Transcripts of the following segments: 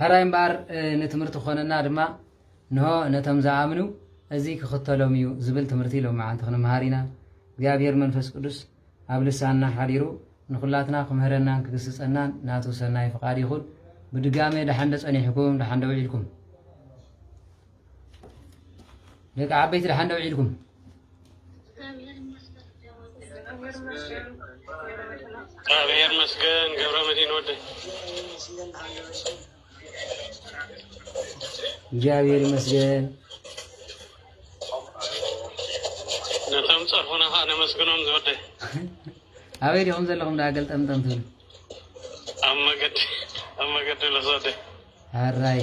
ሕራይ እምበኣር ንትምህርቲ ክኾነና ድማ እንሆ ነቶም ዝኣምኑ እዚ ክኽተሎም እዩ ዝብል ትምህርቲ ሎምዓንቲ ክንምሃር ኢና። እግዚኣብሔር መንፈስ ቅዱስ ኣብ ልሳንና ሓዲሩ ንኹላትና ክምህረናን ክግስጸናን ናቱ ሰናይ ፍቃድ ይኹን። ብድጋሜ ደሓንዶ ጸኒሕኩም ደሓንዶ ውዒልኩም። ደቂ ዓበይቲ ደሓን ደው ዒልኩም እግዚአብሔር ይመስገን ገብረ መድህን ወደ እግዚአብሔር ይመስገን ነቶም ፀርፉና ከዓ ነመስግኖም ዝወደ ኣበይ ዲኹም ዘለኹም ዳ ገልጠምጠም ትብሉ ኣብ መገዲ ኣብ መገዲ ለዝወደ ኣራይ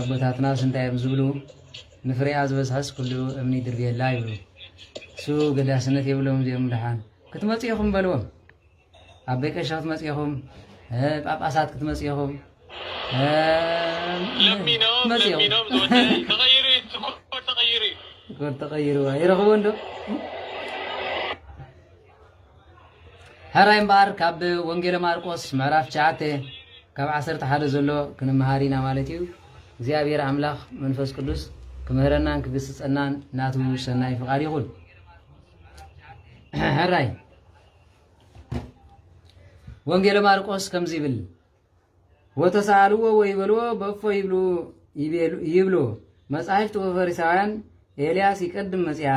ኣቦታትናስ እንታይ እዮም ዝብሉ ንፍሬኣ ዝበዝሐስ ኩሉ እምኒ ድርብየላ ይብሉ እሱ ገዳስነት የብሎም እዚኦም ድሓን ክትመፁ ኢኹም በልዎም ኣቤ ቀሻ ክትመፁ ኢኹም ጳጳሳት ክትመፁ ኢኹም ተቐይሩ ይረኽቦ እንዶ ሕራይ እምበኣር ካብ ወንጌለ ማርቆስ ምዕራፍ ትሽዓተ ካብ ዓሰርተ ሓደ ዘሎ ክንመሃር ኢና ማለት እዩ። እግዚኣብሔር ኣምላኽ መንፈስ ቅዱስ ክምህረናን ክግስጸናን ናቱ ሰናይ ፍቓድ ይኹን። ሕራይ ወንጌለ ማርቆስ ከምዚ ይብል ወተሳልዎ ወይበልዎ በእፎ ይብሉ ይብሉ መጻሕፍት ወፈሪሳውያን ኤልያስ ይቀድም መጽያ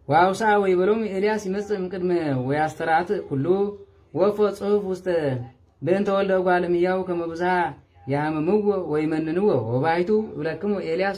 ወአውሳ ወይበሎም ኤልያስ ይመጽእ እምቅድመ ወያስተራእት ኩሉ ወፎ ጽሑፍ ውስተ ብእንተ ወልደ እጓለ እምሕያው ከመ ብዙኃ ያህምምዎ ወይመንንዎ ወባሕቱ እብለክሙ ኤልያስ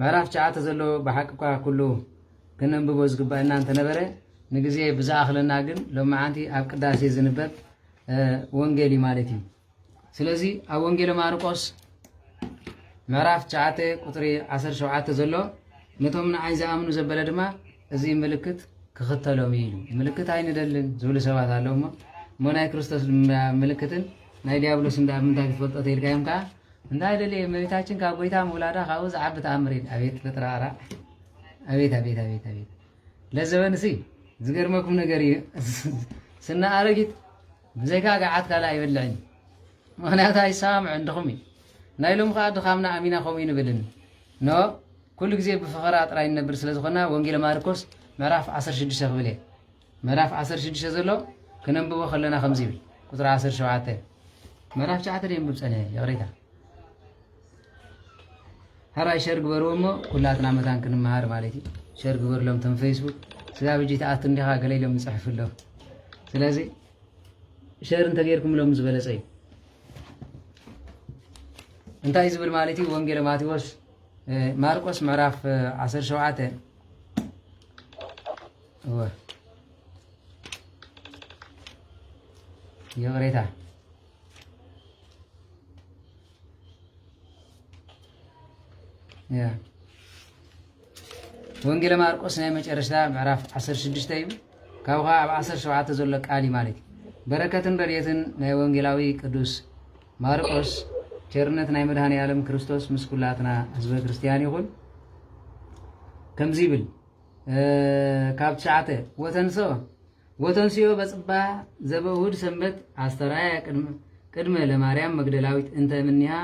ምዕራፍ ትሽዓተ ዘሎ ብሓቂ'ኳ ኩሉ ከነንብቦ ዝግበእና እንተነበረ ንግዜ ብዝኣኽለና ግን ሎምዓንቲ ኣብ ቅዳሴ ዝንበብ ወንጌል እዩ ማለት እዩ። ስለዚ ኣብ ወንጌለ ማርቆስ ምዕራፍ ትሽዓተ ቁፅሪ ዓሰርተ ሸውዓተ ዘሎ ነቶም ንዓይ ዝኣምኑ ዘበለ ድማ እዚ ምልክት ክኽተሎም እዩ ኢሉ ምልክት ኣይንደልን ዝብሉ ሰባት ኣለዉ እሞ እሞ ናይ ክርስቶስ ምልክትን ናይ ዲያብሎስን ዳኣ ምንታይ ክትፈልጦ ተይልካ እዮም ከዓ እንታይ ደልየ እመቤታችን ካብ ጎይታ ምውላዳ ካብኡ ዝዓቢ ተኣምር የለ ኣቤት ፈጥራራ ኣቤት ኣቤት ኣቤት ኣቤት ለዘበን ሲ ዝገርመኩም ነገር እዩ ስና ኣረጊት ብዘይካ ገዓት ካልእ ኣይበልዕን ምክንያቱ ኣይሰማምዕን ድኹም እዩ ናይ ሎም ከዓ ድኻምና ኣሚና ከምኡ ይንብልን ኖ ኩሉ ግዜ ብፍኸራ ጥራይ ንነብር ስለ ዝኾና ወንጌል ማርቆስ ምዕራፍ 16 ክብል እየ ምዕራፍ ዓሰርተ ሽዱሽተ ዘሎ ክነንብቦ ከለና ከምዚ ይብል ቁፅሪ ዓሰርተ ሸውዓተ ምዕራፍ ትሽዓተ ደንብብ ፀንሐ ይቕሬታ ሃባይ ሸር ግበርዎ እሞ ኩላትና መታን ክንመሃር ማለት እዩ ሸር ግበርሎም ቶም ፌስቡክ ስጋብ ሕጂ ተኣቱ እንዲኻ ገለ ኢሎም ይፅሕፉ ኣለዉ ስለዚ ሸር እንተገይርኩምሎም ዝበለፀ እዩ እንታይ ዝብል ማለት እዩ ወንጌለ ማቴዎስ ማርቆስ ምዕራፍ 17 እወ ይቕሬታ ወንጌለ ማርቆስ ናይ መጨረሻ ምዕራፍ 16 እዩ ካብ ከዓ ኣብ 17 ዘሎ ቃል እዩ ማለት እዩ በረከትን ረድኤትን ናይ ወንጌላዊ ቅዱስ ማርቆስ ቸርነት ናይ መድሃኒ ዓለም ክርስቶስ ምስ ኩላትና ህዝበ ክርስትያን ይኹን ከምዚ ይብል ካብ ትሽዓተ ወተንሶ ወተንስዮ በጽባ ዘበእሁድ ሰንበት ኣስተራየ ቅድመ ለማርያም መግደላዊት እንተ ምኒሃ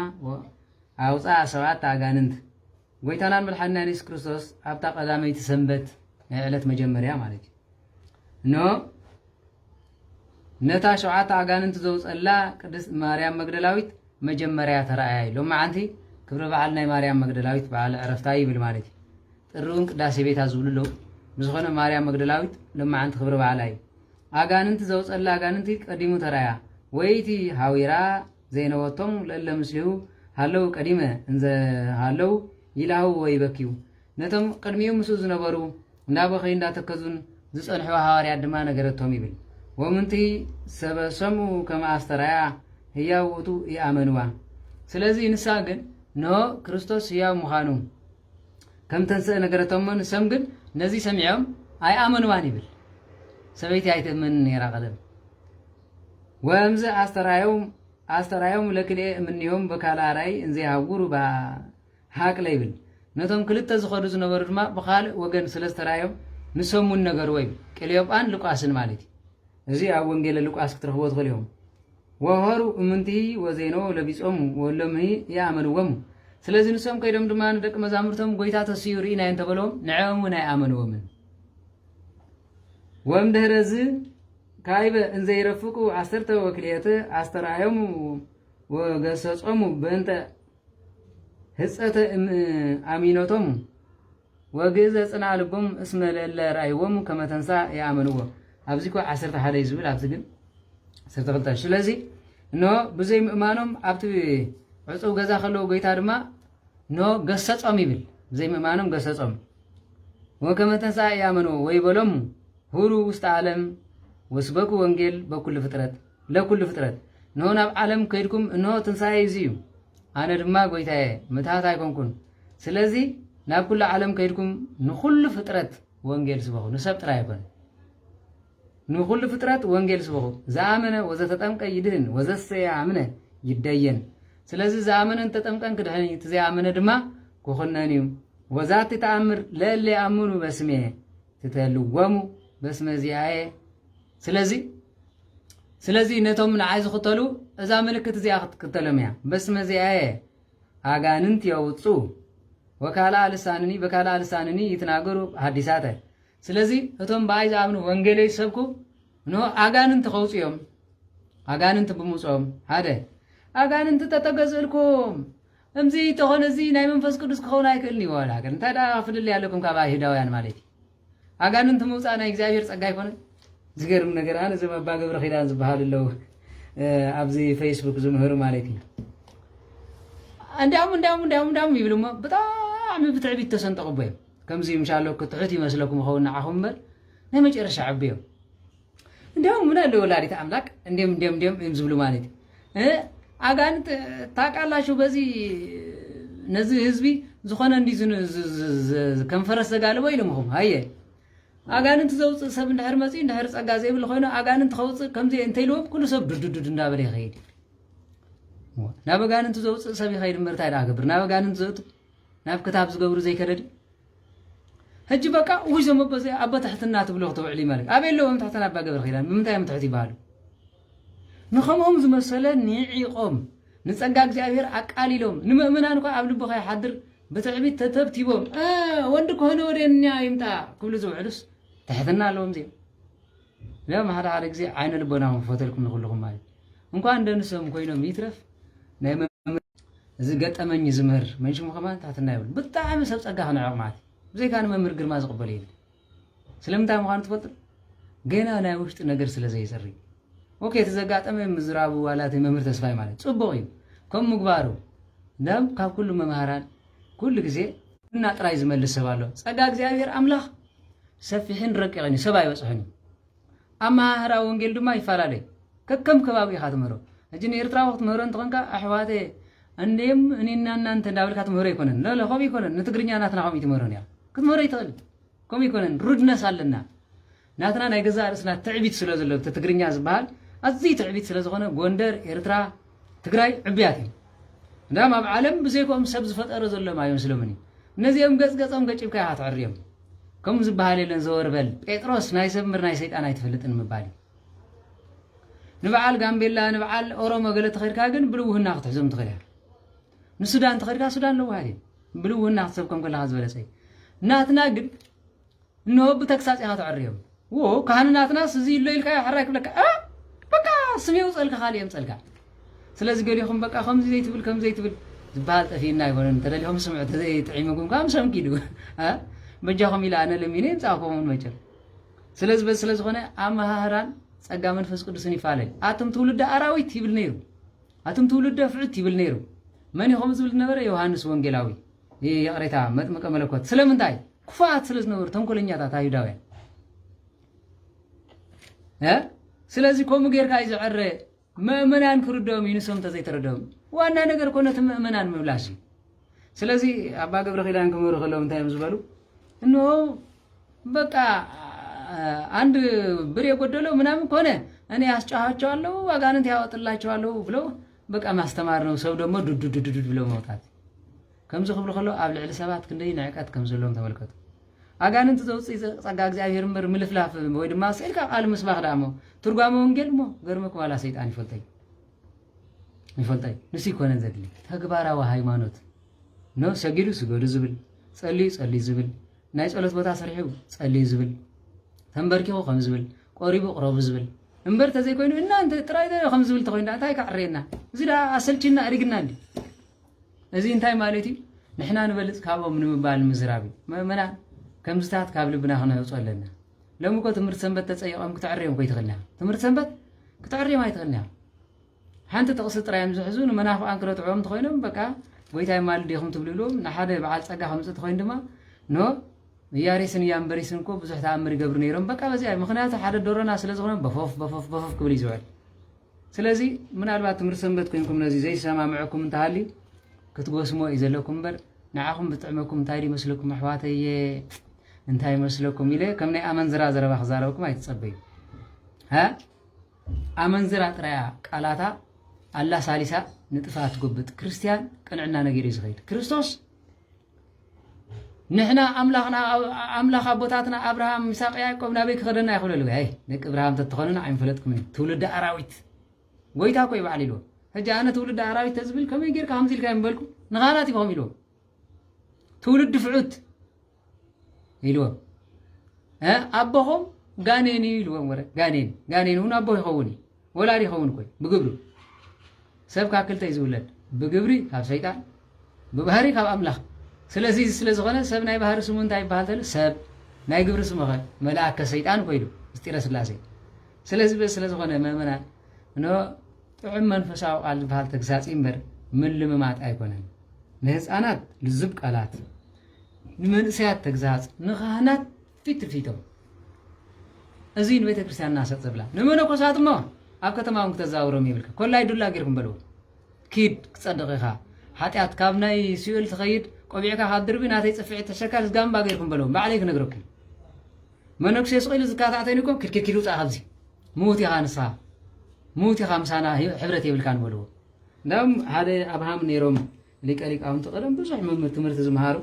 ኣውፃ ሰብዓት ኣጋንንት ጎይታናን መድሓኒናን የሱስ ክርስቶስ ኣብታ ቀዳመይቲ ሰንበት ናይ ዕለት መጀመርያ ማለት እዩ እነሆ ነታ ሸውዓተ ኣጋንንቲ ዘውፀላ ቅድስት ማርያም መግደላዊት መጀመርያ ተረኣያ እዩ ሎመዓንቲ ክብረ በዓል ናይ ማርያም መግደላዊት በዓል ዕረፍታ እዩ ይብል ማለት እዩ ጥሪ እውን ቅዳሴ ቤታ ዝብሉ ኣለዉ ብዝኾነ ማርያም መግደላዊት ሎመዓንቲ ክብረ በዓላ እዩ ኣጋንንቲ ዘውፀላ ኣጋንንቲ ቀዲሙ ተረኣያ ወይቲ ሃዊራ ዘይነበቶም ለእለ ምስሊሁ ሃለው ቀዲመ እንዘ ሃለው ይላህው ወይበክዩ ነቶም ቕድሚኡ ምስኡ ዝነበሩ እንዳ በኸዩ እንዳ ተከዙን ዝጸንሑ ሃዋርያት ድማ ነገረቶም ይብል ወምንቲ ሰበ ሰሙ ከመ ኣስተርኣያ ህያው ውእቱ ይኣመንዋ ስለዚ ንሳ ግን እንሆ ክርስቶስ ህያው ምዃኑ ከም ተንስእ ነገረቶሞ ንሰም ግን ነዚ ሰሚዖም ኣይኣመንዋን ይብል ሰበይቲ ኣይትእመንን ነይራ ቀደም ወምዝ ኣስተራዮም ኣስተራዮም ለክልኤ እምንዮም በካላ ራይ እንዘይ ሃውሩ ባ ሃቅለ ይብል። ነቶም ክልተ ዝኸዱ ዝነበሩ ድማ ብኻልእ ወገን ስለ ዝተራእዮም ንሶም እውን ነገርዎ ይብል። ቅልዮጳን ሉቃስን ማለት እዩ። እዚ ኣብ ወንጌለ ሉቃስ ክትረኽብዎ ትኽእሉ ኢኹም። ወሆሩ እምንትሂ ወዜነዎ ለቢጾሙ ወሎምሂ ይኣመንዎሙ። ስለዚ ንሶም ከይዶም ድማ ንደቂ መዛሙርቶም ጎይታ ተሲኡ ርኢናዮ እንተበለዎም ንዕኦም እውን ኣይኣመንዎምን። ወእምድኅረዝ ካይበ እንዘ ይረፍቁ ዓሰርተ ወክልኤተ ኣስተርኣዮሙ ወገሰጾሙ በእንተ ህጸተ እም ኣሚኖቶም ወግእዘ ጽና ልቦም እስመ ለእለ ርኣይዎም ከመተንሳ የኣመንዎ ኣብዚ እኮ ዓሰርተ ሓደ እዩ ዝብል ኣብዚ ግን ዓሰርተ ክልተ ስለዚ እነሆ ብዘይ ምእማኖም ኣብቲ ዕፁብ ገዛ ከለዉ ጎይታ ድማ እነሆ ገሰፆም ይብል ብዘይ ምእማኖም ገሰፆም ወከመ ተንሥአ የኣመንዎ ወይበሎሙ ሁሩ ውስተ ዓለም ወስበኩ ወንጌል በኩሉ ፍጥረት ለኵሉ ፍጥረት እንሆ ናብ ዓለም ከይድኩም እንሆ ትንሣኤ እዚ እዩ ኣነ ድማ ጐይታየ ምትሃት ኣይኮንኩን ስለዚ ናብ ኩሉ ዓለም ከይድኩም ንኹሉ ፍጥረት ወንጌል ስበኹ ንሰብ ጥራይ ኣይኮነ ንኹሉ ፍጥረት ወንጌል ስበኹ ዝኣመነ ወዘተጠምቀ ይድህን ወዘሰየ ኣምነ ይደየን ስለዚ ዝኣመነ እንተጠምቀን ክድሕን እዩ እቲ ዘይኣመነ ድማ ክኹነን እዩ ወዛቲ ተኣምር ለእለ ኣምኑ በስሜ ትተልወሙ በስመ ዚኣየ ስለዚ ስለዚ ነቶም ንዓይ ዝኽተሉ እዛ ምልክት እዚኣ ክትክተሎም እያ በስመ እዚኣየ ኣጋንንት የውፁ ወካልኣ ልሳንኒ በካልኣ ልሳንኒ ይትናገሩ ሃዲሳተ ስለዚ እቶም ብኣይ ዝኣምኑ ወንጌለይ ዝሰብኩ ን ኣጋንንቲ ከውፁ እዮም ኣጋንንቲ ብምውፅኦም ሓደ ኣጋንንቲ ተተገዝእልኩም እምዚ ተኾነ እዚ ናይ መንፈስ ቅዱስ ክኸውን ኣይክእልን ይዋላ እንታይ ደኣ ፍልልይ ኣለኩም ካብ ኣይሁዳውያን ማለት እዩ ኣጋንንቲ ምውፃእ ናይ እግዚኣብሔር ፀጋ ኣይኮነን? ዝገርም ነገር ኣነ እዞም ኣባ ገብረ ኪዳን ዝበሃሉ ኣለዉ ኣብዚ ፌስቡክ ዝምህሩ ማለት እዩ እንዲያውም እንዲያውም እንዲያውም እንዲያውም ይብሉ እሞ ብጣዕሚ ብትዕቢት ተሰንጠቑቦ እዮም ከምዚ ምሻለኩ ትሑት ይመስለኩም ይኸውን ንዓኹም እምበር ናይ መጨረሻ ዕብዮም እንዲያውም ምን አለ ወላዲተ አምላክ እንዲም እንዲም እንዲም እም ዝብሉ ማለት እዩ አጋንንት ታውቃላችሁ በዚህ ነዚ ህዝቢ ዝኾነ እንዲ ከም ፈረስ ዘጋልቦ ኢሎምኹም ሃየ አጋንንት ዘውፅእ ሰብ እንድሕር መፅኡ እንድሕር ፀጋ ዘይብሉ ኮይኑ አጋንንት ከውፅእ ከምዚ እንተኢልዎም ኩሉ ሰብ ዱዱዱድ እንዳበለ ይኸይድ ናብ አጋንንት ዘውፅእ ሰብ ይኸይድ ምርታይ ዳኣ ገብር ናብ አጋንንት ዘእቱ ናብ ክታብ ዝገብሩ ዘይከደድ ህጂ በቃ ውይ ዘም ኣቦ ዘይ ኣቦ ትሕትና ትብሎ ክተውዕሊ ማለት ኣበይ ኣለዎ እም ትሕትና ኣባ ገብረ ኪዳን ብምንታይ እም ትሕት ይባሃሉ ንከምኦም ዝመሰለ ኒዒቆም ንጸጋ እግዚኣብሔር ኣቃሊሎም ንምእምናን እኳ ኣብ ልቡ ከይሓድር ብትዕቢት ተተብቲቦም ወንድ ከሆነ ወደኛ ይምጣ ክብሉ ዝውዕሉስ ትሕትና ኣለዎም እዚኦም እዚኦም ሓደ ሓደ ግዜ ዓይነ ልቦና ክፈተልኩም ንክልኹም ማለት እንኳን ደንሶም ኮይኖም ይትረፍ ናይ እዚ ገጠመኝ ዝምህር መን ሽሙ ከማን ትሕትና ይብሉ ብጣዕሚ ሰብ ጸጋ ክንዕቕ ማለት እዩ ብዘይካ ንመምህር ግርማ ዝቕበል የለ ስለምንታይ ምዃኑ ትፈልጡ ገና ናይ ውሽጢ ነገር ስለ ዘይጽሪ ኦኬ እቲ ዘጋጠመ ምዝራቡ ዋላ እቲ መምህር ተስፋይ ማለት ጽቡቕ እዩ ከም ምግባሩ ደም ካብ ኩሉ መምሃራን ኩሉ ግዜ እና ጥራይ ዝመልስ ሰብ ኣሎ ጸጋ እግዚኣብሔር ኣምላኽ ሰፊሕን ረቂቕን እዩ ሰብ ኣይበጽሕን እዩ ኣመሃህራ ወንጌል ድማ ይፈላለ እዩ። ከከም ከባቢኡ ኢኻ ትምህሮ። ሕጂ ንኤርትራዊ ክትምህሮ እንተኾንካ ኣሕዋተ እንዴም እኔና እናንተ እንዳበልካ ትምህሮ ኣይኮነን። ለለ ከምኡ ኣይኮነን። ንትግርኛ ናትና ከምኡ ትምህሮ ኒኻ ክትምህሮ ኣይትኽእል። ከምኡ ኣይኮነን። ሩድነስ ኣለና። ናትና ናይ ገዛእ ርእስና ትዕቢት ስለ ዘሎ እቲ ትግርኛ ዝበሃል ኣዝዩ ትዕቢት ስለ ዝኾነ ጎንደር ኤርትራ ትግራይ ዕብያት እዩ እንዳም ኣብ ዓለም ብዘይኮም ሰብ ዝፈጠረ ዘሎም ኣይመስሎምን እዩ እነዚኦም ገጽ ገጾም ገጭብካ ኢኻ ትዕርዮም ከም ዝበሃል የለን ዘወር በል ጴጥሮስ ናይ ሰብ ምር ናይ ሰይጣን ኣይትፈልጥን ምባል እዩ ንበዓል ጋምቤላ ንበዓል ኦሮሞ ገለ ተኸድካ ግን ብልውህና ክትሕዞም ትኽእል እያ ንሱዳን ተኸድካ ሱዳን ለውሃት እዩ ብልውህና ክትሰብከም ከለካ ዝበለጸ እዩ ናትና ግን እነሆ ብተግሳጽ ኢኻ ተዕርዮም ዎ ካህንናትናስ እዚ እሎ ኢልካዮ ሕራይ ክብለካ እ በቃ ስም የውጸልካ ካልእ የምጸልካ ስለዚ ገሊኹም በቃ ከምዚ ዘይትብል ከምዚ ዘይትብል ዝበሃል ጠፊእና ኣይኮነን እንተደሊኹም ስምዑ ተዘይጥዒምኩም ከዓ ምሶም ኪዱ እ በጃኹም ኢለ ኣነ ለሚነ የምጻእኩምን መቸም ስለዚ በዚ ስለ ዝኾነ ኣመሃህራን ጸጋ መንፈስ ቅዱስን ይፋለል ኣቱም ትውልደ ኣራዊት ይብል ነይሩ ኣቱም ትውልደ ፍዑት ይብል ነይሩ መን ኢኹም ዝብል ነበረ ዮሃንስ ወንጌላዊ ይቕሬታ መጥምቀ መለኮት ስለምንታይ ክፉኣት ስለ ዝነበሩ ተንኮለኛታት ኣይሁዳውያን ስለዚ ከምኡ ጌርካ እዩ ዝዕረ ምእመናን ክርድኦም እዩ ንሶም እንተዘይተረድኦም ዋና ነገር ኮነ እቲ ምእመናን ምብላሽ እዩ ስለዚ ኣባ ገብረ ኪዳን ክምህሩ ከለዉ እንታይ እዮም ዝበሉ እንሆ በቃ አንድ ብር የጎደለው ምናምን ከሆነ እኔ አስጫኋቸዋለሁ አጋንንት ያወጥላቸዋለሁ ብለው በቃ ማስተማርነው ሰብ ደሞ ዱዱዱዱዱ ብሎ መውጣት ከምዚ ክብሉ ከለዉ ኣብ ልዕሊ ሰባት ክንደይ ንዕቀት ከም ዘለዎም ተመልከቱ ኣጋንንቲ ዘውፅእ ጸጋ እግዚኣብሔር እምበር ምልፍላፍ ወይ ድማ ስእልካ ቃል ምስባኽ ደኣ እሞ ትርጓመ ወንጌል እሞ ገርመኩ ዋላ ሰይጣን ይፈልጠይ ይፈልጠይ ንሱ ይኮነን ዘድሊ ተግባራዊ ሃይማኖት ኖ ሰጊዱ ስገዱ ዝብል ጸልዩ ጸልዩ ዝብል ናይ ጸሎት ቦታ ስርሒቡ ጸልዩ ዝብል ተንበርኪኹ ከም ዝብል ቆሪቡ ቅረቡ ዝብል እምበር ተዘይ ኮይኑ እናንተ ጥራይ ዶ ከም ዝብል ተኮይኑ ዳኣ እንታይ ካዕረየና እዚ ዳኣ ኣሰልቺና ኣድግና እንዲ እዚ እንታይ ማለት እዩ ንሕና ንበልፅ ካብኦም ንምባል ምዝራብ እዩ መእመና ከምዝታት ካብ ልብና ክነውፅኦ ኣለና ሎሚ እኮ ትምህርቲ ሰንበት ተፀይቆም ክትዕርዮም ኮይትኽእልና ትምህርቲ ሰንበት ክትዕርዮም ኣይትኽእልና ሓንቲ ጥቕሲ ጥራይ እዮም ዝሕዙ ንመናፍቓን ክረትዕዎም እንተኾይኖም በቃ ጎይታ የማልድ ዲኹም ትብሉ ኢልዎም ንሓደ በዓል ጸጋ ከምጽእ እንተኾይኑ ድማ ኖ ንያሬስን ያምበሪስን እኮ ብዙሕ ተኣምር ይገብሩ ነይሮም በቃ በዚኣ ምክንያቱ ሓደ ዶሮና ስለ ዝኾነ በፎፍ በፎፍ በፎፍ ክብል እዩ ዝውዕል ስለዚ ምናልባት ትምህርቲ ሰንበት ኮይንኩም ነዚ ዘይሰማምዐኩም እንተሃልዩ ክትጎስሞ እዩ ዘለኩም እምበር ንዓኹም ብጥዕመኩም እንታይ ዶ ይመስለኩም ኣሕዋተየ እንታይ ይመስለኩም ኢለ ከም ናይ ኣመንዝራ ዘረባ ክዛረበኩም ኣይትጸበዩ ኣመንዝራ ጥራያ ቃላታ ኣላሳሊሳ ንጥፍኣት ትጉብጥ። ክርስትያን ቅንዕና ነጊሩ እዩ ዝኸይድ። ክርስቶስ ንሕና ኣምላኽና ኣምላኽ ኣቦታትና ኣብርሃም ምሳቅ ያዕቆብ ናበይ ክኸደና ይኽእለሉ ይ ደቂ እብርሃም ተትኾኑን ኣይምፈለጥኩምን ትውልዲ ኣራዊት ጎይታ ኮይ በዓል ኢልዎ ሕጂ ኣነ ትውልዲ ኣራዊት ተዝብል ከመይ ጌርካ ከምዚ ኢልካ ይምበልኩ ንኻላት ይኹም ኢልዎ ትውልዲ ፍዑት ኢልዎም እ ኣቦኹም ጋኔን እዩ ኢልዎም ወረ ጋኔን ጋኔን እውን ኣቦ ይኸውን እዩ ወላድ ይኸውን ኮይ ብግብሩ ሰብ ካብ ክልተ እዩ ዝውለድ ብግብሪ ካብ ሰይጣን ብባህሪ ካብ ኣምላኽ ስለዚ ስለ ዝኾነ ሰብ ናይ ባህሪ ስሙ እንታይ ይበሃል ተሉ ሰብ ናይ ግብሪ ስሙኸ መልኣከ ሰይጣን ኮይሉ ምስጢረ ስላሴ ስለዚ በ ስለ ዝኾነ ምእመናን ን ጥዑም መንፈሳዊ ቃል ዝበሃል ተግሳፂ እምበር ምልምማጥ ኣይኮነን ንህፃናት ልዙብ ቃላት ንመንእሰያት ተግሳጽ፣ ንካህናት ፊትፊቶም እዙይ ንቤተ ክርስቲያንና ሰጥ ዘብላ፣ ንመነኮሳት እሞ ኣብ ከተማ እውን ክተዛውሮም የብልካ ኮላይ ዱላ ጌርኩም በልዎ ኪድ ክጸድቕ ኢኻ ሓጢኣት ካብ ናይ ሲኦል ትኸይድ ቆቢዕካ ካብ ድርቢ ናተይ ጽፍዒት ተሸካል ዝጋምባ ጌርኩም በልዎም ባዕለይ ክነግረኩም መነኩሴ ስቕ ኢሉ ዝካታዕተኒ እኮ ኪድ ኪድ ኪድ ውጻእ ካብዚ ምዉት ኢኻ ንስኻ ምዉት ኢኻ ምሳና ሕብረት የብልካን በልዎ እንዳም ሓደ ኣብሃም ነይሮም ሊቀ ሊቃውንቲ ቀደም ብዙሕ መምህር ትምህርቲ ዝምሃሩ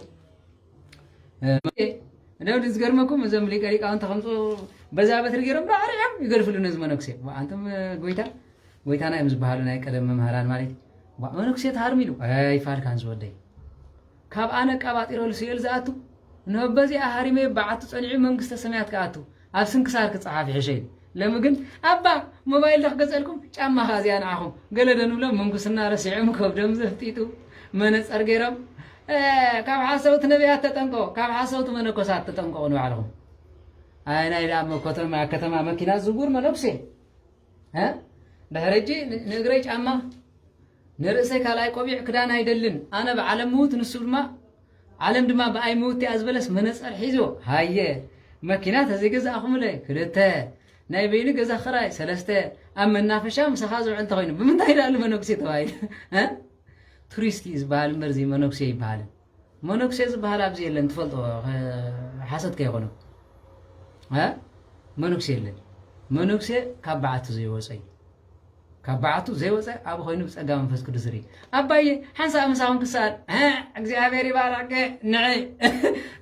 እንደው ዝገርመኩም እዞም ሊቀ ሊቃውንቲ ከምፁ በዛ በትሪ ገይሮም ባዕሪዖም ይገድፍሉ ነዚ መነኩሴ ኣንቶም ጎይታ ጎይታና እዮም ዝበሃሉ ናይ ቀደም መምህራን ማለት እዩ መነኩሴ ተሃርሚ ኢሉ ኣይፋልካን ዝወደይ ካብ ኣነ ቀባጢሮ ስኤል ዝኣቱ ንበዚኣ ሃሪመ በዓቱ ፀኒዑ መንግስተ ሰማያት ክኣቱ ኣብ ስንክሳር ክጸሓፍ ይሕሸ ኢሉ ለሚ ግን ኣባ ሞባይል ዶ ክገዝኣልኩም ጫማ ከኣ እዚኣ ንዓኹም ገለ ዶ ንብሎም ምንኩስና ረሲዖም ከብዶም ዘፍጢጡ መነጸር ገይሮም ካብ ሓሰውቲ ነቢያት ተጠንቀቑ ካብ ሓሰውቲ መነኮሳት ተጠንቀቑ ንባዕልኹም ኣይ ናይ ደኣ መኮተማ ከተማ መኪና ዝውር መነኩሴ ድሕሪ ሕጂ ንእግረይ ጫማ ንርእሰይ ካልኣይ ቆቢዕ ክዳን ኣይደልን ኣነ ብዓለም ምዉት ንሱ ድማ ዓለም ድማ ብኣይ ምውቲኣ ዝበለስ መነጸር ሒዞ ሃየ መኪና ተዘይገዛእኹምለ ክልተ ናይ በይኑ ገዛ ክራይ ሰለስተ ኣብ መናፈሻ ምሳኻ ዝውዕል እንተኾይኑ ብምንታይ ዳኣሉ መነኩሴ ተባሂሉ ቱሪስት እዩ ዝበሃል እምበር እዚ መነኩሴ ይበሃል መነኩሴ ዝበሃል ኣብዚ የለን ትፈልጦ ሓሶት ከይኾኑ መነኩሴ የለን መነኩሴ ካብ በዓቱ ዘይወፀ እዩ ካብ በዓቱ ዘይወጸ ኣብኡ ኮይኑ ብጸጋ መንፈስ ቅዱስ ዝርኢ ኣባየ ሓንሳእ ምሳኹም ክሰኣል ዕዕ እግዚኣብሔር ይባርኽኪ ንዒ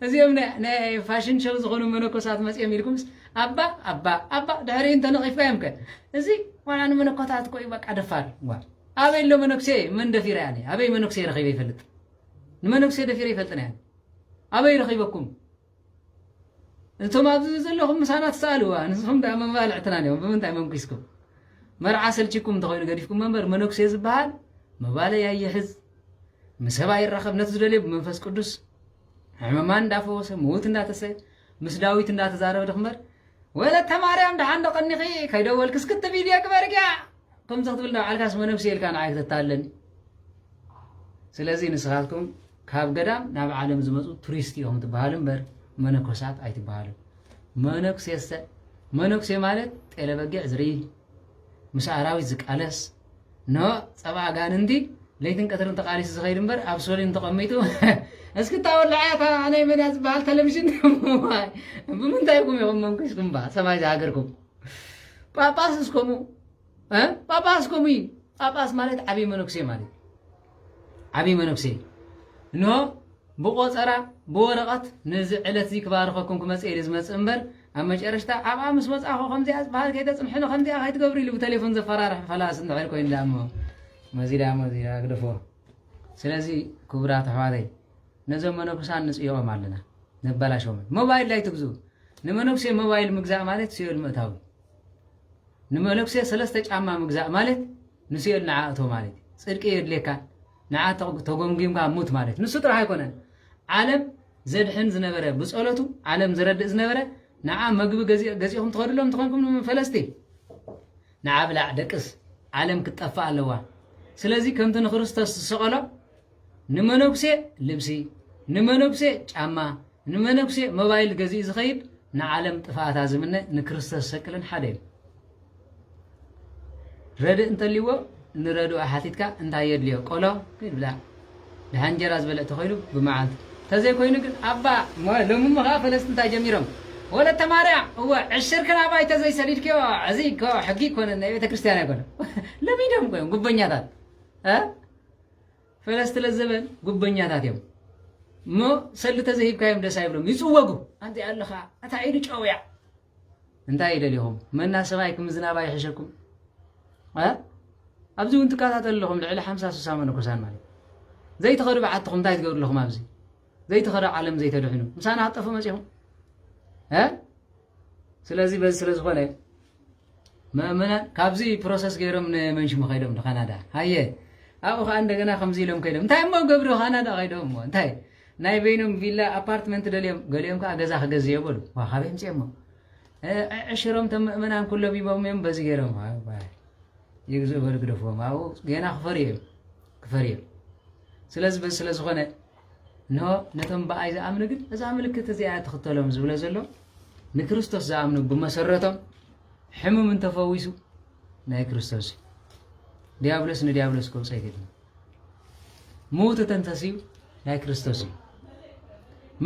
እዚኦም ናይ- ናይ ፋሽን ሸው ዝኾኑ መነኮሳት መጺኦም ኢልኩምስ ኣባ ኣባ ኣባ ድሕሪኡ እንተነቒፍካዮም ከ እዚ ዋላ ንመነኮታት እኮ እዩ በቃ ደፋር ዋ ኣበይ ኣሎ መነኩሴ መን ደፊረ ኣነ ኣበይ መነኩሴ ረኺበ ይፈልጥ ንመነኩሴ ደፊረ ይፈልጥን እያ ኣበይ ረኺበኩም እቶም ኣብዚ ዘለኹም ምሳና ትሰኣልዋ ንስኹም ደኣ መባልዕትናን እዮም ብምንታይ መንኪስኩም መርዓ ሰልቺኩም እንተኾይኑ ገዲፍኩም መንበር መነኩሴ ዝበሃል መባለይ ኣይሕዝ ምሰብ ኣይራኸብ ነቲ ዝደልዮ ብመንፈስ ቅዱስ ሕመማን እንዳፈወሰ ምውት እንዳተሰ ምስ ዳዊት እንዳተዛረበ ድኽመር ወለተ ማርያም ደሓን ዶ ቀኒኺ ከይደወልክስ ክቲ ቪድዮ ግበርግያ ከምዚ ክትብል ንባዕልካስ መነኩሴ ኢልካ ንዓይ ክተታልለኒ ስለዚ ንስኻትኩም ካብ ገዳም ናብ ዓለም ዝመፁ ቱሪስት እዮም ትበሃሉ እምበር መነኮሳት ኣይትበሃሉ መነኩሴሰ መነኩሴ ማለት ጤለ በጊዕ ዝርኢ ምስ ኣራዊት ዝቃለስ ኖ ፀባ ኣጋንንቲ ለይትን ቀትርን ተቃሊሱ ዝኸይድ እምበር ኣብ ሶሊን ተቐሚጡ እስኪ ታወላዓታ ናይ መዳ ዝበሃል ቴሌቭዥን ብምንታይኩም ኢኹም መንኩስኩም ባ ሰማይ ዝሃገርኩም ጳጳስ እስከሙ ጳጳስ ከምኡ እዩ ጳጳስ ማለት ዓብዪ መነኩሴ ማለት ዓብዪ መነኩሴ እንሆ ብቆፀራ ብወረቐት ነዚ ዕለት እዚ ክባርኸኩም ክመፅእ ኢሉ ዝመፅእ እምበር ኣብ መጨረሽታ ኣብኣ ምስ መፅእኹ ከምዚኣ ዝበሃል ከይተፅንሕኒ ከምዚኣ ከይትገብሩ ኢሉ ብቴሌፎን ዘፈራርሕ ፈላሲ እንድሕር ኮይኑ ዳሞ መዚ ዳሞ እዚ ግደፎ ስለዚ ክቡራት ኣሕዋተይ ነዞም መነኩሳን ንጽይኦም ኣለና ነባላሾምን ሞባይል ላይ ትግዙ ንመነኩሴ ሞባይል ምግዛእ ማለት ሲኦል ምእታዊ ንመነኩሴ ሰለስተ ጫማ ምግዛእ ማለት ንሲኦል ንዓ እቶ ማለት ጽድቂ የድልየካን ንዓ ተጎምጊምካ ሙት ማለት ንሱ ጥራሕ ኣይኮነን ዓለም ዘድሕን ዝነበረ ብጸሎቱ ዓለም ዝረድእ ዝነበረ ንዓ መግቢ ገዚኹም ትኸድሎም ትኾንኩም ፈለስቲ ንዓ ብላዕ ደቅስ ዓለም ክትጠፍእ ኣለዋ ስለዚ ከምቲ ንክርስቶስ ዝሰቐሎ ንመነኩሴ ልብሲ፣ ንመነኩሴ ጫማ፣ ንመነኩሴ ሞባይል ገዚኡ ዝኸይድ ንዓለም ጥፍኣታ ዝምነ ንክርስቶስ ዝሰቅልን ሓደ እዩ። ረድእ እንተልይዎ ንረድኡ ሓቲትካ እንታይ የድልዮ ቆሎ ከይድ ብላ ድሓን እንጀራ ዝበልዕ ተኮይኑ ብመዓልቲ ተዘይኮይኑ ግን ኣባ ሎሚ እሞ ከዓ ፈለስቲ እንታይ ጀሚሮም ወለተ ማርያም እወ ዕሽርክን ኣባይ ተዘይሰዲድክዮ እዚ እኮ ሕጊ ይኮነ ናይ ቤተ ክርስቲያን ኣይኮነ ለሚዶም ኮይም ጉበኛታት ፈለስቲ ለዘበን ጉበኛታት እዮም እሞ ሰልዲ ተዘሂብካዮም ደስ ኣይብሎም ይፅወጉ ኣንተ ኣለኻ ኣታ ኢዱ ጨውያ እንታይ ይደልኹም መና ሰማይ ክምዝናባ ይሕሸኩም ኣብዚ እውን ትከታተሉ ኣለኹም ልዕሊ ሓምሳ ስሳ መነኮሳን ማለት ዘይትኸዱ በዓትኹም እንታይ ትገብሩ ኣለኹም ኣብዚ ዘይትኸዱ ዓለም ዘይተድሕኑ ምሳና ክጠፉ መፂኹም ስለዚ በዚ ስለ ዝኾነ መእመናን ካብዚ ፕሮሰስ ገይሮም ንመን ሽሙ ከይዶም ንካናዳ ሃየ ኣብኡ ከዓ እንደገና ከምዚ ኢሎም ከይዶም እንታይ እሞ ገብሩ ካናዳ ከይዶም እሞ እንታይ ናይ በይኖም ቪላ ኣፓርትመንት ደልዮም ገሊኦም ከዓ ገዛ ክገዝዮ በሉ ዋ ካበይ ምፅኦም እሞ ዕሽሮም ቶም ምእመናን ኩሎም ይቦም እዮም በዚ ገይሮም ይግዝኡ በሉ ግደፍዎም ኣብኡ ገና ክፈርዩ እዮም ክፈርዩ እዮም ስለዚ በዚ ስለ ዝኾነ እንሆ ነቶም ብኣይ ዝኣምኑ ግን እዛ ምልክት እዚኣ ትኽተሎም ዝብሎ ዘሎ ንክርስቶስ ዝኣምኑ ብመሰረቶም ሕሙም እንተፈዊሱ ናይ ክርስቶስ እዩ ዲያብሎስ ንዲያብሎስ ከውፀ ኣይገድም ምውት እተንተስዩ ናይ ክርስቶስ እዩ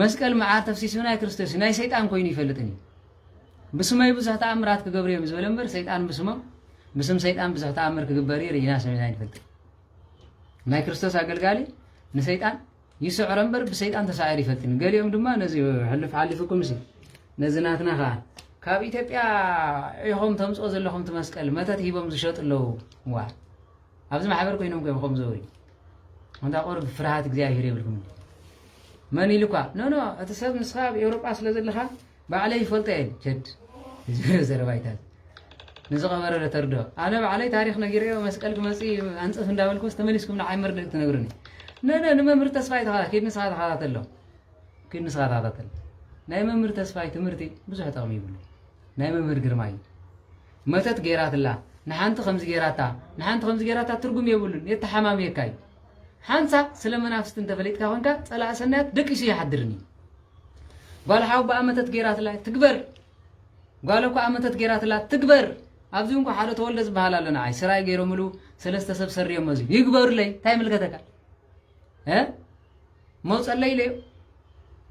መስቀል መዓር ተፍሲሱ ናይ ክርስቶስ እዩ ናይ ሰይጣን ኮይኑ ይፈልጥን እዩ ብስመይ ብዙሕ ተኣምራት ክገብሩ እዮም ዝበለ እምበር ሰይጣን ብስሞም ብስም ሰይጣን ብዙሕ ተኣምር ክግበር እዩ ርኢና ሰሚዕና ይንፈልጥ ናይ ክርስቶስ ኣገልጋሊ ንሰይጣን ይስዕሮ እምበር ብሰይጣን ተሳዒሩ ይፈልጥን ገሊኦም ድማ ነዚ ሕሉፍ ሓሊፉኩምሲ ነዚ ናትና ከኣ ካብ ኢትዮጵያ ዒኹም ተምጽኦ ዘለኹም እቲ መስቀል መተት ሂቦም ዝሸጡ ኣለዉ ዋ ኣብዚ ማሕበር ኮይኖም ኮም ከም ዘውሪ እንታ ቁርብ ፍርሃት እግዚኣብሄር የብልኩም መን ኢሉኳ ኖኖ እቲ ሰብ ንስኻ ኣብ ኤውሮጳ ስለ ዘለኻ ባዕለይ ይፈልጦ እየ ቸድ ዝብረ ዘረባይታት ንዝቐበረ ለተርዶ ኣነ ባዕለይ ታሪክ ነጊረዮ መስቀል ክመፅ ኣንፅፍ እንዳበልኩስ ተመሊስኩም ንዓይ መርድእ ትነግሩኒ ነነ ንመምህር ተስፋይ ተኸታ ኪድ ንስኻ ተኸታተሎ ኪድ ንስኻ ተኸታተል ናይ መምህር ተስፋይ ትምህርቲ ብዙሕ ጠቕሚ ይብሉ ናይ መምህር ግርማይ መተት ገይራትላ ንሓንቲ ከምዚ ገይራታ ንሓንቲ ከምዚ ገይራታ ትርጉም የብሉን የተሓማምየካ እዩ ሓንሳ ስለ መናፍስቲ እንተፈሊጥካ ኮንካ ፀላእ ሰናያት ደቂሱ ይሓድርን እዩ ጓል ሓው ባኣ መተት ገይራትላ እያ ትግበር ጓለ ኩኣ መተት ገይራትላ ትግበር ኣብዚ ውን ሓደ ተወልደ ዝበሃል ኣሎ ንዓይ ስራይ ገይሮምሉ ሰለስተ ሰብ ሰሪዮሞ እዚ ይግበሩለይ እንታይ ይምልከተካ እ መውፀለይ ኢለዮ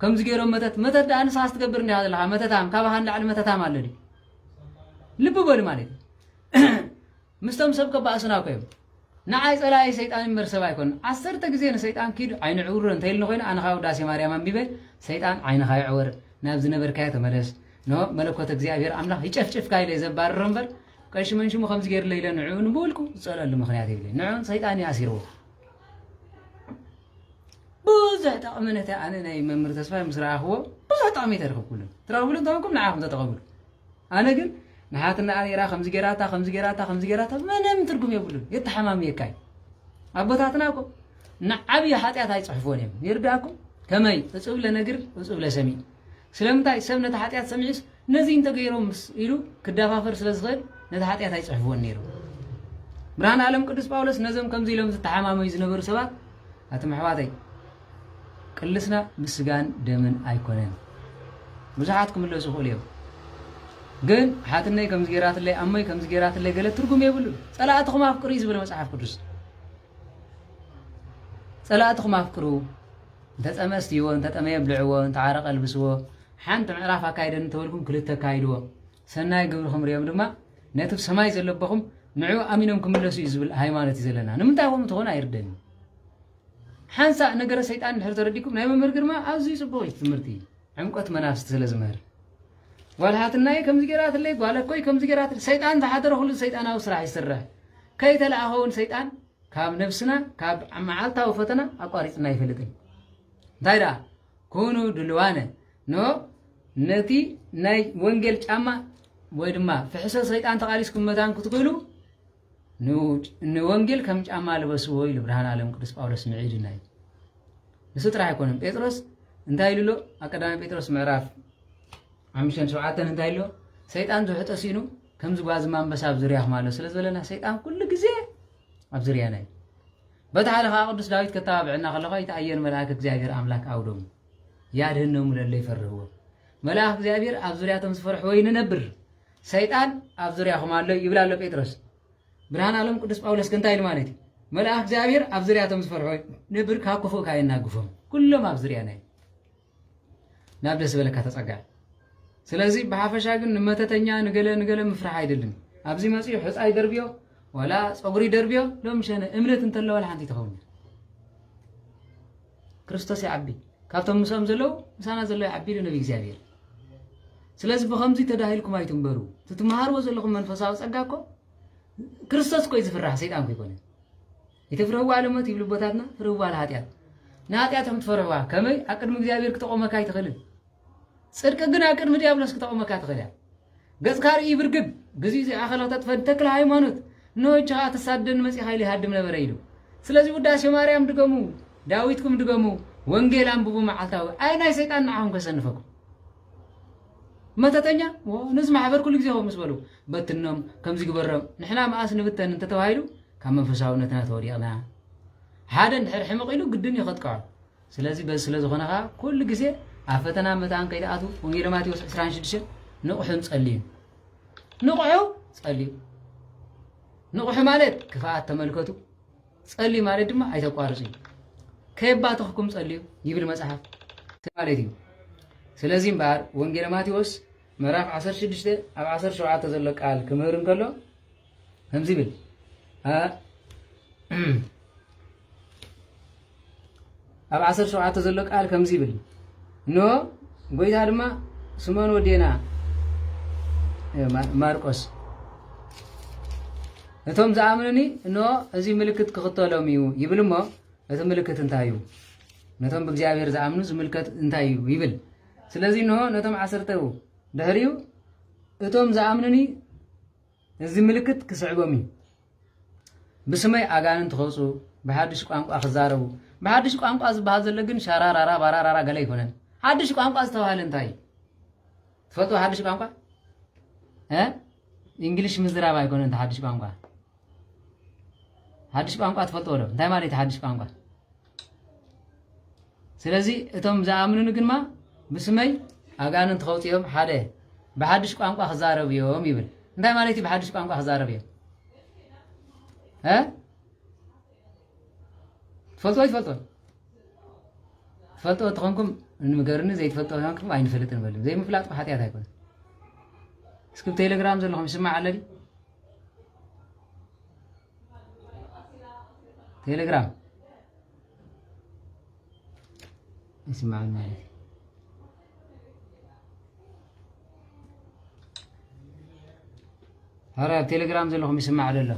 ከምዚ ገይሮም መተት መተት ደኣ ንስኻስ ትገብር እንዲኻ ዘለኻ መተታም ካባኻ ንላዕሊ መተታም ኣሎ ልቢ በሉ ማለት እዩ ምስቶም ሰብ ከባእሱና እኮ እዮም ንዓይ ጸላኢ ሰይጣን እምበር ሰብ ኣይኮነን ዓሰርተ ግዜ ንሰይጣን ኪድ ኣይነዕውርሮ እንተኢልኒ ኮይነ ኣነ ካኣ ውዳሴ ማርያም ኣንቢበ ሰይጣን ዓይንኻ ይዕወር ናብ ዝነበርካዮ ተመለስ ን መለኮት እግዚኣብሄር ኣምላኽ ይጨፍጭፍካ ኢለ ዘባርሮ እምበር ቀሺ መንሽሙ ከምዚ ገይርለይ ኢለ ንዕኡ ንብውልቁ ዝጸለሉ ምኽንያት የብለይ ንዕኡን ሰይጣን እዩ ኣሲርዎ ብዙሕ ጠቕሚ ነቲ ኣነ ናይ መምህር ተስፋይ ምስ ረኣኽዎ ብዙሕ ጠቕሚ ተረኽብኩሉን ትረኽብሉ እንተኾንኩም ንዓኹም ተጠቐምሉ ኣነ ግን ንሓትና ኣሬራ ከምዚ ጌራታ ከምዚ ጌራታ ከምዚ ጌራታ ምንም ትርጉም የብሉን የተሓማምየካ እዩ ኣቦታትና እኮ ንዓብዪ ሓጢኣት ኣይፅሕፎን እዮም ይርዳእኩም ከመይ እፁብ ለነግር እፁብ ለሰሚዕ ስለምንታይ ሰብ ነቲ ሓጢኣት ሰሚዑስ ነዚ እንተገይሮም ኢሉ ክደፋፈር ስለ ዝኽእል ነቲ ሓጢኣት ኣይፅሕፍዎን ነይሩ ብርሃን ዓለም ቅዱስ ጳውሎስ ነዞም ከምዚ ኢሎም ዝተሓማመዩ ዝነበሩ ሰባት ኣቲ ምሕዋተይ ቅልስና ምስ ስጋን ደምን ኣይኮነን ብዙሓት ክምለሱ ይኽእሉ እዮም ግን ሓትነይ ከምዚ ጌራትለይ ኣሞይ ከምዚ ጌራትለይ ገለ ትርጉም የብሉን ጸላእትኹም ኣፍቅሩ እዩ ዝብል መጽሓፍ ቅዱስ ጸላእትኹም ኣፍቅሩ እንተጸመ ስትይዎ እንተጠመየ ብልዕዎ እንተዓረቀ ልብስዎ ሓንቲ ምዕራፍ ኣካይደን እንተበልኩም ክልተ ኣካይድዎ ሰናይ ግብርኹም ሪኦም ድማ ነቲ ብ ሰማይ ዘለበኹም ንዑ ኣሚኖም ክምለሱ እዩ ዝብል ሃይማኖት እዩ ዘለና ንምንታይ ከምኡ ትኾኑ ኣይርደን እዩ ሓንሳእ ነገረ ሰይጣን እንድሕር ተረዲኩም ናይ መምህር ግርማ ኣዝዩ ጽቡቕ እዩ ትምህርቲ ዕምቆት መናፍስቲ ስለ ዝምህር ጓል ሃትናይ ከምዚ ገይራትለይ ጓል እኮይ ከምዚ ገይራትለይ ሰይጣን ዝሓደረ ኩሉ ሰይጣናዊ ስራሕ ይስራሕ ከይተለኣኸ እውን ሰይጣን ካብ ነብስና ካብ መዓልታዊ ፈተና ኣቋሪፅና ኣይፈልጥን እንታይ ደኣ ኩኑ ድልዋነ ኖ ነቲ ናይ ወንጌል ጫማ ወይ ድማ ፍሕሶ ሰይጣን ተቓሊስኩም መታን ክትኽእሉ ንወንጌል ከም ጫማ ልበስዎ ኢሉ ብርሃን ኣለም ቅዱስ ጳውሎስ ምዒድና እዩ ንሱ ጥራሕ ኣይኮነን ጴጥሮስ እንታይ ኢሉ ኣብ ቀዳማይ ጴጥሮስ ምዕራፍ ሓምሽተን ሸውዓተን እንታይ ኣሎ ሰይጣን ዝውሕጦ ሲኑ ከምዚ ጓዝማ ኣንበሳ ኣብ ዙርያኹም ኣሎ ስለ ዝበለና ሰይጣን ኩሉ ግዜ ኣብ ዙርያና እዩ በቲ ሓደ ከዓ ቅዱስ ዳዊት ከተባብዐና ከለኳ ይተኣየን መልኣክ እግዚኣብሔር ኣምላክ ኣውዶሙ ያድህነሙ ለለ ይፈርህዎ መልኣክ እግዚኣብሔር ኣብ ዙርያቶም ዝፈርሕዎ ይንነብር ሰይጣን ኣብ ዙርያኹም ኣሎ ይብል ኣሎ ጴጥሮስ። ብርሃን ኣሎም ቅዱስ ጳውሎስ ግን እንታይ ኢሉ ማለት እዩ? መልኣኽ እግዚኣብሔር ኣብ ዙርያቶም ዝፈርሖ ንብር ካብ ክፉእ ካእ የናግፎም። ኩሎም ኣብ ዙርያና እዩ። ናብ ደስ ዝበለካ ተጸጋዕ። ስለዚ ብሓፈሻ ግን ንመተተኛ ንገለ ንገለ ምፍራሕ ኣይደልን። ኣብዚ መጺኡ ሕፃ ይደርብዮ ወላ ጸጉሪ ይደርብዮ ሎም ሸነ እምነት እንተለዋ ሓንቲ ትኸውን ክርስቶስ ይዓቢ ካብቶም ምስኦም ዘለዉ ምሳና ዘሎ ይዓቢ ኢሉ ነቢ እግዚኣብሔር ስለዚ ብከምዚ ተዳሂልኩም ኣይትንበሩ እቲ ትመሃርዎ ዘለኹም መንፈሳዊ ጸጋ እኮ ክርስቶስ እኮ እዩ ዝፍራሕ ሰይጣን ኮይኮነ የተፍርህዋ ኣለሞት ይብሉ ቦታትና ፍርህዋ ለሃጢኣት ንሃጢኣትኩም ትፈርህዋ ከመይ ኣብ ቅድሚ እግዚኣብሔር ክተቆመካ ኣይትኽእልን ጽድቂ ግን ኣብ ቅድሚ ዲያብሎስ ክተቆመካ ትኽእል እያ ገጽካ ርእይ ብርግድ ብዚ እዚ ኣኸለ ክተጥፈ ንተክለ ሃይማኖት እነሆ እጂ ከኣ ተሳደኒ መጺኻ ኢሉ ይሃድም ነበረ ኢሉ ስለዚ ውዳሴ ማርያም ድገሙ ዳዊትኩም ድገሙ ወንጌል ኣንብቡ መዓልታዊ ኣይ ናይ ሰይጣን ንዓኹም ከሰንፈኩም መተተኛ ነዚ ማሕበር ኩሉ ግዜ ከምኡ ምስ በሉ በትኖም ከምዚ ግበሮም ንሕና መኣስ ንብተን እንተተባሂሉ ካብ መንፈሳውነትና ተወዲቕና ሓደ እንድሕር ሕምቕ ኢሉ ግድን እዩ ከጥቅዖ ስለዚ በዚ ስለ ዝኾነ ከኣ ኩሉ ግዜ ኣብ ፈተና መታን ከይትኣትዉ ወንጌለ ማቴዎስ 26 ንቕሑን ጸልዩን ንቕሑ ጸልዩ ንቕሑ ማለት ክፍኣት ተመልከቱ ጸልዩ ማለት ድማ ኣይተቋርጹ እዩ ከየባትኽኩም ጸልዩ ይብል መጽሓፍ ማለት እዩ ስለዚ እምበኣር ወንጌለ ማቴዎስ ምዕራፍ 16 ኣብ 17 ዘሎ ቃል ክምህር እንከሎ ከምዚ ይብል ኣብ ዓሰርተ ሸውዓተ ዘሎ ቃል ከምዚ ይብል እንሆ ጎይታ ድማ ስመን ወዴና ማርቆስ እቶም ዝኣምኑኒ እንሆ እዚ ምልክት ክኽተሎም እዩ ይብል እሞ እቲ ምልክት እንታይ እዩ ነቶም ብእግዚኣብሔር ዝኣምኑ ዝምልከት እንታይ እዩ ይብል ስለዚ እንሆ ነቶም ዓሰርተ ድሕሪኡ እቶም ዝኣምኑኒ እዚ ምልክት ክስዕቦም እዩ። ብስመይ ኣጋንንቲ ክወፁ፣ ብሓዱሽ ቋንቋ ክዛረቡ። ብሓዱሽ ቋንቋ ዝበሃል ዘሎ ግን ሻራራራ ባራራራ ገለ ኣይኮነን። ሓዱሽ ቋንቋ ዝተባሃለ እንታይ እዩ? ትፈልጥዎ ሓዱሽ ቋንቋ እንግሊሽ ምዝራብ ኣይኮነ እንተ ሓዱሽ ቋንቋ ሓዱሽ ቋንቋ ትፈልጥዎ ዶ እንታይ ማለት ሓዱሽ ቋንቋ ስለዚ እቶም ዝኣምኑኒ ግማ ብስመይ ኣጋንንቲ ከውፅኦም ሓደ ብሓድሽ ቋንቋ ክዛረብ እዮም ይብል እንታይ ማለት እዩ ብሓድሽ ቋንቋ ክዛረብ እዮም ትፈልጦ ይትፈልጦ ትፈልጦ ተኾንኩም ንገርኒ ዘይትፈልጦ ኮንኩም ኣይንፈልጥ ንበሉ ዘይምፍላጥ ሓጢኣት ኣይኮነ እስኪ ቴሌግራም ዘለኹም ይስማዕ ኣለኒ ቴሌግራም ይስማዕን ማለት እዩ ኧረ ኣብ ቴሌግራም ዘለኹም ይስማዕ ደሎ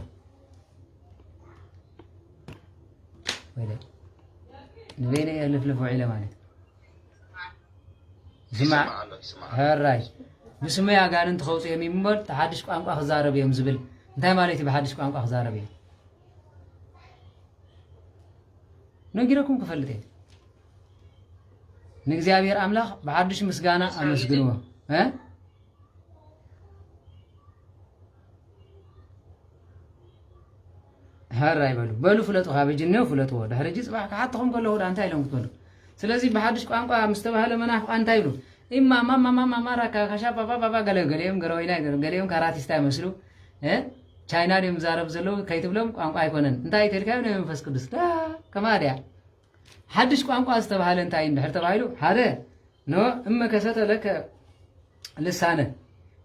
ንበይነ እየ ልፍልፍ ውዒለ ማለት እዩ ይሰማዕ ኣሎ ይስማዕ ኣሎ። ሕራይ ብስመይ ኣጋንንቲ ከውፁ እዮም ይምበር እቲ ሓድሽ ቋንቋ ክዛረብ እዮም ዝብል እንታይ ማለት እዩ ብሓድሽ ቋንቋ ክዛረብ እዮም ነጊረኩም ክፈልጥ እየ ንእግዚኣብሔር ኣምላኽ ብሓድሽ ምስጋና ኣመስግንዎ እ? ሀር ኣይበሉ በሉ ፍለጡ ካብ ሕጂ እኒኦ ፍለጥዎ ድሕሪ ሕጂ ፅባሕ ክሓትኹም ከለኹ ዳ እንታይ ኢሎም ክትበሉ ስለዚ ብሓዱሽ ቋንቋ ምስ ተባህለ መናፍቃ እንታይ ይብሉ ኢማ ማማማማማ ራካ ካሻ ባባባባ ገለ ገሊኦም ገረወይና ይገሩ ገሊኦም ካራቲስታ ይመስሉ እ ቻይና ድዮም ዛረብ ዘለዉ ከይትብሎም ቋንቋ ኣይኮነን እንታይ ተልካዮ ናይ መንፈስ ቅዱስ ዳ ከማ ድያ ሓዱሽ ቋንቋ ዝተባህለ እንታይ እንድሕር ተባሂሉ ሓደ ኖ እመ ከሰተ ለከ ልሳነ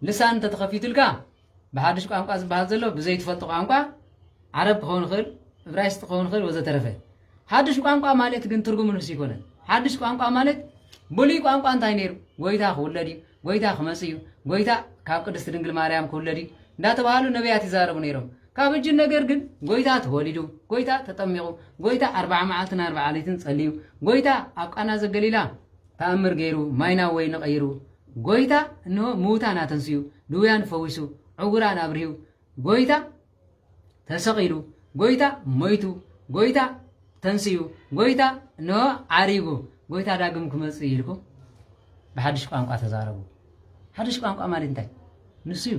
ልሳን እንተተኸፊቱልካ ብሓዱሽ ቋንቋ ዝበሃል ዘሎ ብዘይ ትፈልጦ ቋንቋ ዓረብ ክኸውን ይኽእል፣ እብራይስጥ ክኸውን ይኽእል ወዘተረፈ። ሓዱሽ ቋንቋ ማለት ግን ትርጉም ንሱ ይኮነን። ሓዱሽ ቋንቋ ማለት ብሉይ ቋንቋ እንታይ ነይሩ? ጎይታ ክውለድ እዩ፣ ጎይታ ክመጽእ እዩ፣ ጎይታ ካብ ቅድስቲ ድንግል ማርያም ክውለድ እዩ እንዳተባሃሉ ነቢያት ይዛረቡ ነይሮም። ካብ እጅ ነገር ግን ጎይታ ተወሊዱ፣ ጎይታ ተጠሚቑ፣ ጎይታ ኣርባዓ መዓልትን ኣርባዓ ለይትን ጸልዩ፣ ጎይታ ኣብ ቃና ዘገሊላ ተኣምር ገይሩ፣ ማይ ናብ ወይኒ ቀይሩ፣ ጎይታ እንሆ ምዉታን ኣተንስኡ፣ ድውያን ፈዊሱ፣ ዕውራን ኣብርሂው፣ ጎይታ ተሰቒሉ፣ ጎይታ ሞይቱ፣ ጎይታ ተንስኡ፣ ጎይታ እንሆ ዓሪጉ፣ ጎይታ ዳግም ክመጽእ እዩ ኢልኩም ብሓድሽ ቋንቋ ተዛረቡ። ሓድሽ ቋንቋ ማለት እንታይ? ንሱ እዩ።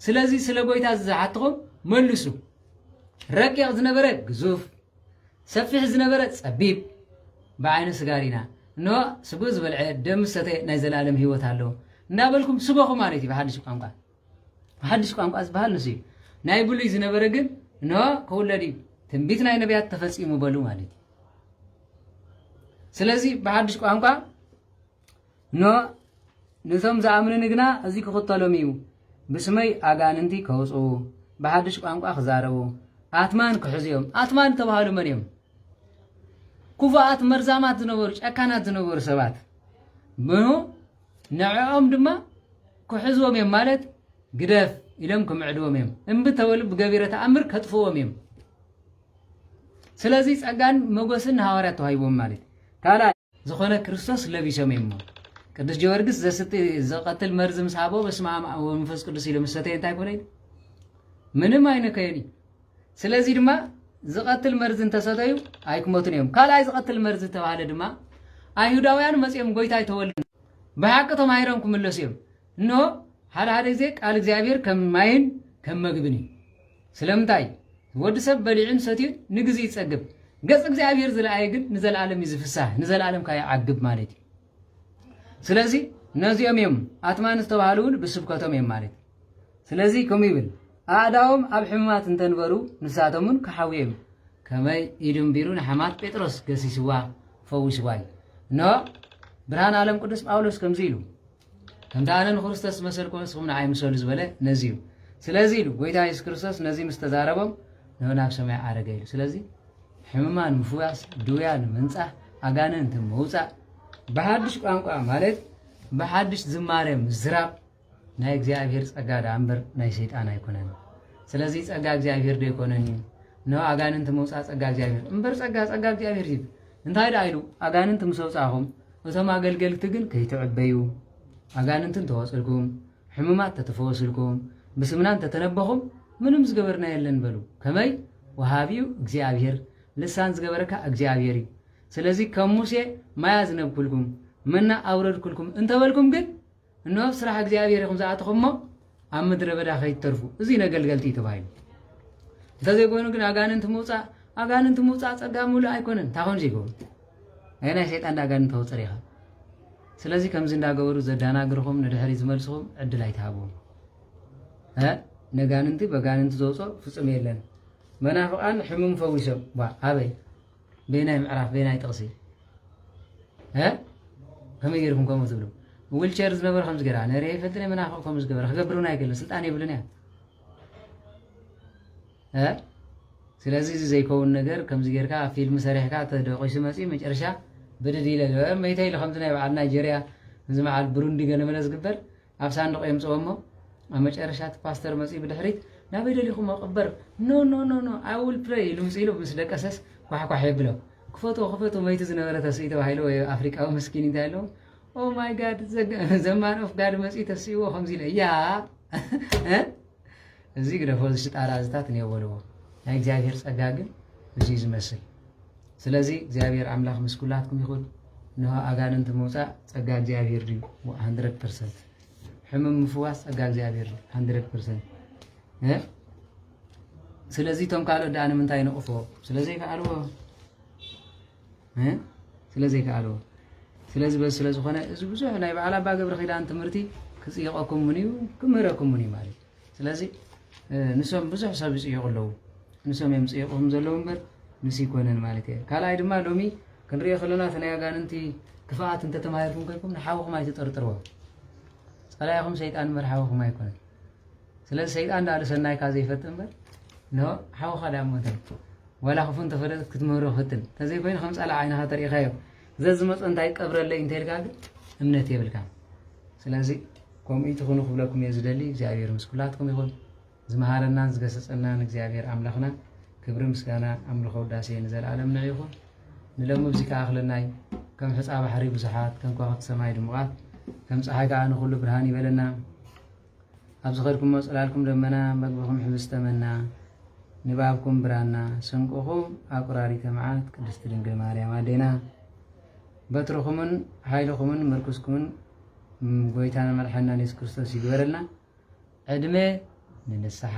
ስለዚ ስለ ጎይታ ዝሓትኹም መልሱ። ረቂቕ ዝነበረ ግዙፍ፣ ሰፊሕ ዝነበረ ጸቢብ፣ ብዓይኑ ስጋ ርኢና፣ እንሆ ስግኡ ዝበልዐ ደም ምስ ሰተየ ናይ ዘለኣለም ህይወት ኣለዎ እንዳበልኩም ስበኹ ማለት እዩ ብሓድሽ ቋንቋ። ብሓድሽ ቋንቋ ዝበሃል ንሱ እዩ። ናይ ብሉይ ዝነበረ ግን እንሆ ክውለድ እዩ፣ ትንቢት ናይ ነቢያት ተፈጺሙ በሉ ማለት እዩ። ስለዚ ብሓድሽ ቋንቋ ን ነቶም ዝኣምኑኒ ግና እዚ ክኽተሎም እዩ፣ ብስመይ ኣጋንንቲ ከውጽኡ፣ ብሓድሽ ቋንቋ ክዛረቡ፣ ኣትማን ክሕዙ እዮም። ኣትማን እተባህሉ መን እዮም? ክፉኣት መርዛማት ዝነበሩ ጨካናት ዝነበሩ ሰባት ምኑ ንዕኦም ድማ ክሕዝዎም እዮም ማለት ግደፍ ኢሎም ክምዕድዎም እዮም እምቢ ተበሉ ብገቢረ ተኣምር ከጥፍዎም እዮም ስለዚ ጸጋን መጎስን ንሃዋርያት ተዋሂቦም ማለት ካልኣይ ዝኾነ ክርስቶስ ለቢሶም እዮም እሞ ቅዱስ ጀወርግስ ዘስቲ ዘቐትል መርዚ ምስ ሃቦ በስመ ኣብ ወመንፈስ ቅዱስ ኢሉ ምስ ሰተየ እንታይ ኮነ ምንም ኣይነከየን እዩ ስለዚ ድማ ዝቐትል መርዚ እንተሰተዩ ኣይክመቱን እዮም ካልኣይ ዝቐትል መርዚ ዝተባሃለ ድማ ኣይሁዳውያን መፅኦም ጎይታ ኣይተወልድ ብሓቂ ተማሂሮም ክምለሱ እዮም እንሆ ሓደ ሓደ ግዜ ቃል እግዚኣብሔር ከም ማይን ከም መግብን እዩ ስለምንታይ? ወዲ ሰብ በሊዑን ሰትዩን ንግዜ ይጸግብ፣ ገጽ እግዚኣብሄር ዝለኣየ ግን ንዘለኣለም እዩ ዝፍሳህ፣ ንዘለኣለም ከኣ ይዓግብ ማለት እዩ። ስለዚ ነዚኦም እዮም ኣትማን ዝተባህሉ እውን ብስብከቶም እዮም ማለት እዩ። ስለዚ ከምኡ ይብል ኣእዳዎም ኣብ ሕሙማት እንተንበሩ ንሳቶም እውን ክሓውዩ እዮም። ከመይ ኢዱ እንቢሩ ንሓማት ጴጥሮስ ገሲስዋ ፈዊስዋ እዩ። እነሆ ብርሃን ዓለም ቅዱስ ጳውሎስ ከምዚ ኢሉ ከምቲ ኣነ ንክርስቶስ ዝመሰልኩ ንስኹም ንዓይ ምሰሉ ዝበለ ነዚ እዩ ስለዚ ኢሉ ጎይታ የሱስ ክርስቶስ ነዚ ምስ ተዛረቦም ንዑ ናብ ሰማይ ዓረገ ኢሉ ስለዚ ሕሙማን ምፍዋስ ድውያን ምንጻህ ኣጋንንቲ ምውፃእ ብሓድሽ ቋንቋ ማለት ብሓድሽ ዝማሬ ምዝራብ ናይ እግዚኣብሔር ጸጋ ደኣ እምበር ናይ ሰይጣን ኣይኮነን ስለዚ ጸጋ እግዚኣብሔር ዶ ይኮነን እዩ ን ኣጋንንቲ ምውፃእ ጸጋ እግዚኣብሔር እምበር ጸጋ ጸጋ እግዚኣብሔር እዩ እንታይ ደኣ ኢሉ፣ ኣጋንንቲ ምስ ኣውጻእኹም፣ እቶም ኣገልገልቲ ግን ከይትዕበዩ፣ ኣጋንንቲ እንተ ወጽእልኩም፣ ሕሙማት ተተፈወስልኩም፣ ብስምና እንተ ተነበኹም፣ ምንም ዝገበርናዮ የለን በሉ። ከመይ? ወሃቢ እዩ እግዚኣብሄር፣ ልሳን ዝገበረካ እግዚኣብሄር እዩ። ስለዚ ከም ሙሴ ማይ ኣዝነብኩልኩም፣ መና ኣውረድኩልኩም እንተ በልኩም ግን፣ እንሆ ኣብ ስራሕ እግዚኣብሔር ኢኹም ዝኣተኹም እሞ ኣብ ምድረ በዳ ከይትተርፉ እዚ ነገልገልቲ እዩ ተባሂሉ እንተዘይኮይኑ ግን ኣጋንንቲ ምውፃእ ኣጋንንቲ ምውፃእ ፀጋ ምሉእ ኣይኮነን እንታይ ኮን ዘይገብሩ ናይ ናይ ሰይጣን ኣጋንንቲ ተውፅር ኢኻ ስለዚ ከምዚ እንዳገበሩ ዘዳናግርኹም ንድሕሪ ዝመልስኹም ዕድል ኣይትሃብዎም ነጋንንቲ በጋንንቲ ዘውፅኦ ፍፁም የለን መናፍቃን ሕሙም ፈዊሶም ኣበይ በየናይ ምዕራፍ በየናይ ጥቕሲ እ ከመይ ገይርኩም ከምኡ ትብሉ ዊልቸር ዝነበረ ከም ዝገራ ነሬ ይፈልጥን መናፍቕ ከም ዝገበረ ክገብር እውን ኣይክእልን ስልጣን የብልን እያ እ ስለዚ እዚ ዘይከውን ነገር ከምዚ ጌርካ ፊልም ሰሪሕካ ተደቂሱ መፅኡ መጨረሻ ብድድ ኢለ መይተ ኢሉ ከምዚ ናይ በዓል ናይጀርያ እዚ መዓል ብሩንዲ ገለመለ ዝግበር ኣብ ሳንዱቕ የምጽኦ እሞ ኣብ መጨረሻ እቲ ፓስተር መጺኡ ብድሕሪት ናበይ ደሊኹሞ ቅበር ኖ ኖ ኖ ኖ ኣይ ዊል ፕሬይ ኢሉ ምጽ ኢሉ ምስ ደቀሰስ ኳሕኳሕ የብሎ ክፈትዎ ክፈትዎ መይቱ ዝነበረ ተስኢ ተባሂሉ ወይ ኣፍሪቃዊ መስኪን እንታይ ኣለዎ ኦ ማይ ጋድ ዘማን ኦፍ ጋድ መጺኡ ተስእዎ ከምዚ ኢለ ያ እዚ ግደፎ እዚ ሽጣራ እዚታት እኔው በልዎ ናይ እግዚኣብሔር ጸጋ ግን እዙይ ዝመስል ስለዚ እግዚኣብሔር ኣምላኽ ምስ ኩላትኩም ይኹን እንሆ ኣጋንንቲ ምውፃእ ጸጋ እግዚኣብሔር ድዩ 100 ፐርሰንት ሕሙም ምፍዋስ ጸጋ እግዚኣብሔር ድዩ 100 ፐርሰንት ስለዚ እቶም ካልኦት ደኣ ንምንታይ ንቕፎ ስለዘይከኣልዎ ስለ ዘይከኣልዎ ስለዚ በዚ ስለ ዝኾነ እዚ ብዙሕ ናይ በዓል ኣባ ገብረ ኪዳን ትምህርቲ ክፅይቐኩም ውን እዩ ክምህረኩም ውን እዩ ማለት እዩ ስለዚ ንሶም ብዙሕ ሰብ ይፅይቑ ኣለዉ ንሶም እዮም ፅይቑም ዘለዉ እምበር ንስ ይኮነን ማለት እየ ካልኣይ ድማ ሎሚ ክንሪኦ ከለና እቲ ናይ ኣጋንንቲ ክፍኣት እንተተማሂርኩም ኮይንኩም ንሓውኹም ኣይትጠርጥርዎ ፀላኢኹም ሰይጣን እምበር ሓውኹም ኣይኮነን ስለዚ ሰይጣን ድኣ ንሰናይካ ዘይፈጥን እምበር ንሓውኻ ድኣ እሞ እንታይ ዋላ ክፉእ እንተፈለጥት ክትምህሮ ፈትን ተዘይኮይኑ ከም ጻላዕ ዓይንኻ ተሪኢኻዮ ዘዝመጾ እንታይ ቀብረለይ እንተልካ ግን እምነት የብልካ ስለዚ ከምኡ ትኹኑ ክብለኩም እየ ዝደሊ እግዚኣብሔር ምስ ኩላትኩም ይኹን ዝመሃረናን ዝገሰጸናን እግዚኣብሔር ኣምላኽና ክብሪ ምስጋና ኣምልኾ ውዳሴ ንዘለኣለም ንዕ ይኹን ንለሙ እዚ ከዓ ክለናይ ከም ሕፃ ባሕሪ ብዙሓት ከም ከዋኽብቲ ሰማይ ድሙቓት ከም ፀሓይ ከዓ ንኩሉ ብርሃን ይበለና ኣብ ዝኸድኩሞ ጽላልኩም ደመና፣ መግብኹም ሕብስተ መና፣ ንባብኩም ብራና፣ ስንቅኹም ኣቁራሪተ መዓት ቅድስቲ ድንግል ማርያም ኣዴና፣ በትርኹምን ሓይልኹምን ምርኩስኩምን ጎይታና መድሓኒናን የሱስ ክርስቶስ ይግበረልና። ዕድመ ንንስሓ